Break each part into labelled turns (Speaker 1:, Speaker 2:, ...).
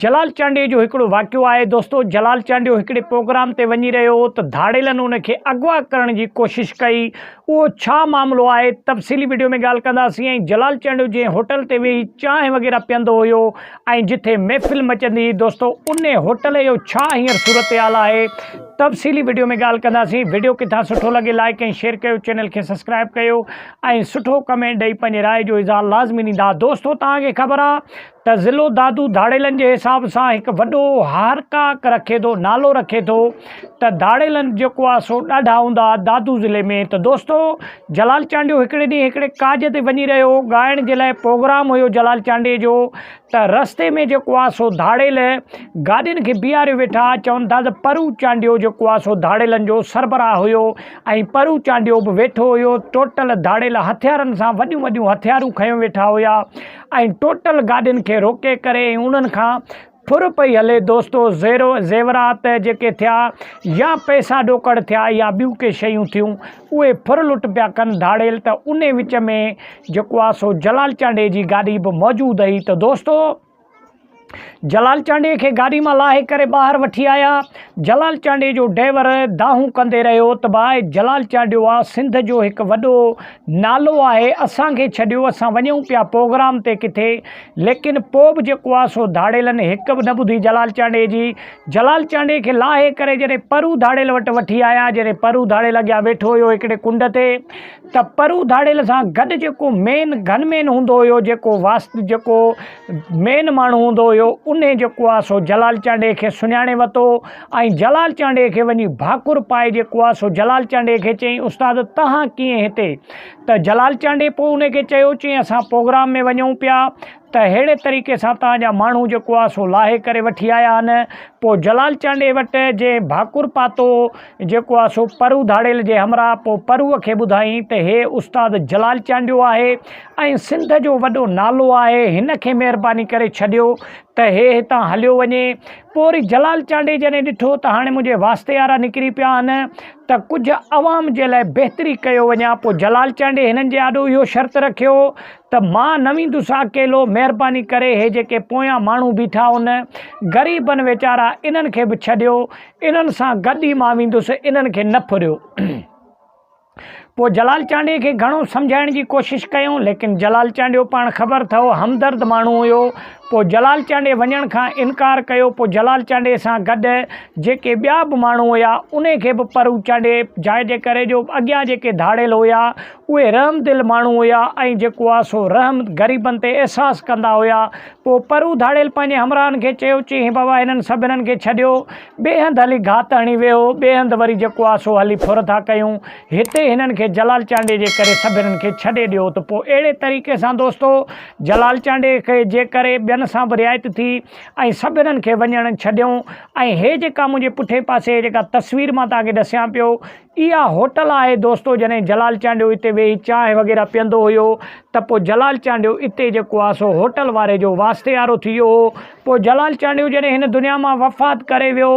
Speaker 1: جلال چانڊيو جو هڪڙو واقعو آهي دوستو جلال چانڊيو هڪڙي پروگرام تي وڃي رهيو هو ته ڌاڙيلن ان کي اغوا ڪرڻ جي ڪوشش ڪئي اهو ڇا معاملو آهي تفصيلي وڊيو ۾ ڳالهه ڪنداسين ۽ جلال چانڊيو جنهن هوٽل تي ويهي چانهه وغيره پيئندو هيو ۽ جتي محفل مچندي هئي دوستو ان هوٽل جو ڇا هينئر صورتحال آهي تفصيلي وڊيو ۾ ڳالهه ڪنداسين وڊيو ڪٿان سٺو لڳي لائيڪ ۽ شيئر ڪيو چينل کي سبسڪرائب ڪيو ۽ سٺو ڪمينٽ ڏئي پنهنجي راء جو اظهار لازمي ڏيندا دوستو توهان کي خبر آهي ته ضلعو دادو ڌاڙيلن جي حساب سان هڪ وڏو هارڪاڪ رکي ٿو نالو رکي ٿو ته ڌاڙيلن جيڪو آهي سو ڏاڍا هوندا دادو ضلعي ۾ ته دوستو جلال چانڊيو هڪڙي ڏينهن هڪڙي ڪاڄ تي وڃي رهيو هو ڳائڻ جي لاء پروگرام هيو جلال چانڊيي جو ته رستي ۾ جيڪو آهي سو ڌاڙيل گاڏين کي بيهاري ويٺا چون ٿا ته پرو چانڊيو جيڪو آهي سو ڌاڙيلن جو سربراهه هيو ۽ پرو چانڊيو به ويٺو هيو ٽوٽل ڌاڙيل هٿيارن سان وڏيون وڏيون هٿيارون کنيو ويٺا هيا ۽ ٽوٽل گاڏين کي روڪي ڪري ۽ انهن کان ڦر پئي هلي دوستو زيرو زيورات جيڪي ٿيا يا پئسا ڏوڪڙ ٿيا يا ٻيون ڪي شيون ٿيون اهي ڦر لٽ پيا ڪن ڌاڙيل ته انهي وچ ۾ جيڪو آ سو جلال چانڊئي جي گاڏي به موجود هئي ته دوستو جلال چانڊيي کي گاڏي مان لاهي ڪري ٻاهر وٺي آيا. جلال چانڊيي جو ڊئور دانهون ڪندي رهيو ته باء جلال چانڊيو آ سنڌ جو هڪ وڏو نالو آهي اسان کي ڇڏيو اسان وڃون پيا پوگرام تي ڪٿي ليڪن پوء به جيڪو آ سو ڌاڙيلن هڪ به نه ٻڌي جلال چانڊيي جي. جلال چانڊيي کي لاهي ڪري جڏهن پرو ڌاڙيل وٽ وٺي آيا جڏهن پرو ڌاڙيل اڳيان ويٺو هيو هڪڙي ڪنڊ تي ته پرو ڌاڙيل سان گڏ جيڪو مين گن مين هوندو هيو جيڪو واست جيڪو مين ماڻهو هوندو هيو انهي جيڪو آ سو جلال چانڊئي کي سڃاڻي وتو ۽ جلال چانڊئي کي وڃي ڀاڪر پائي جيڪو آ سو جلال چانڊئي کي چئين استاد تهان ڪيئن هتي ته جلال چانڊئي پوء انهي کي چيو چئين اسان پوگرام ۾ وڃون پيا ته ههڙي طريقي سان تهان جا ماڻهو جيڪو آ سو لاهي ڪري وٺي آيا آهن پوء جلال چانڊئي وٽ جي ڀاڪر پاتو جيڪو آ سو پرو ڌاڙيل جي همراهه پوء پروء کي ٻڌائين ته هي استاد جلال چانڊيو آهي ۽ سنڌ جو وڏو نالو آهي هن کي مهرباني ڪري ڇڏيو ته هي هتان هليو وڃي پوء وري جلال چانڊئي جڏهن ڏٺو ته هاڻي منهنجي واسطي وارا نڪري پيا آهن ته ڪجهه عوام جي لاء بهتري ڪيو وڃان پوء جلال چانڊئي هنن جي آڏو اهو شرط رکيو ته مان نه ويندس اڪيلو مهرباني ڪري هي جيڪي پويان ماڻهو بيٺا ان غريبن ويچارا انهن کي به ڇڏيو انهن سان گڏ ئي مان ويندس انهن کي نه ڦريو پوء جلال چانڊيي کي گهڻو سمجهائڻ جي ڪوشش ڪيائون، ليڪن جلال چانڊيو پاڻ خبر ٿهو همدرد ماڻهو هيو. پوء جلال چانڊيي وڃڻ کان انڪار ڪيو. پوء جلال چانڊيي سان گڏ جيڪي ٻيا به ماڻهو هيا، انهي کي به پرو چانڊيي جاء جي ڪري جو اڳيان جيڪي ڌاڙيل هيا، اهي رحمدل ماڻهو هيا ۽ جيڪو آ سو رحم غريبن تي احساس ڪندا هيا. پوء پرو ڌاڙيل پنهنجي همراهن کي چيو، چي هي بابا هنن سڀنن کي ڇڏيو. ٻئي هنڌ هلي گهات هڻي ويهو، ٻئي هنڌ وري جيڪو آ سو هلي ڦر ٿا ڪيون. هتي هنن کي جلال چانڊيي جي ڪري سڀنن کي ڇڏي ڏيو ته پوء اهڙي طريقي سان دوستو جلال چانڊيي کي جي ڪري ٻين سان به رعايت ٿي ۽ سڀنن کي وڃڻ ڇڏيئون ۽ هي جيڪا منهنجي پٺئين پاسي جيڪا تصوير مان توهان کي ڏسيان پيو اها هوٽل آهي دوستو جڏهن جلال چانڊيو اتي ويهي چانهه وغيره پيئندو هيو ته پوء جلال چانڊيو اتي جيڪو آهي سو هوٽل واري جو واسطيارو ٿي ويو هو پوء جلال چانڊيو جڏهن هن دنيا مان وفات ڪري ويو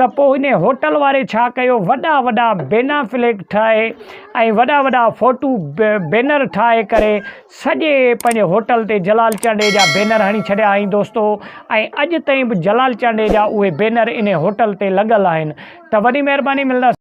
Speaker 1: ته پوء هن هوٽل واري ڇا ڪيو وڏا وڏا بينا فليڪ ٺاهي ۽ وڏا وڏا فوٽو بينر ٺاهي ڪري سڄي پنهنجي هوٽل تي جلال چانڊيي جا بينر هڻي ڇڏيا هئائين دوستو ۽ اڄ تائين به جلال چانڊيي جا اهي بينر انهي هوٽل تي لڳل آهن ته وڏي مهرباني ملنداسين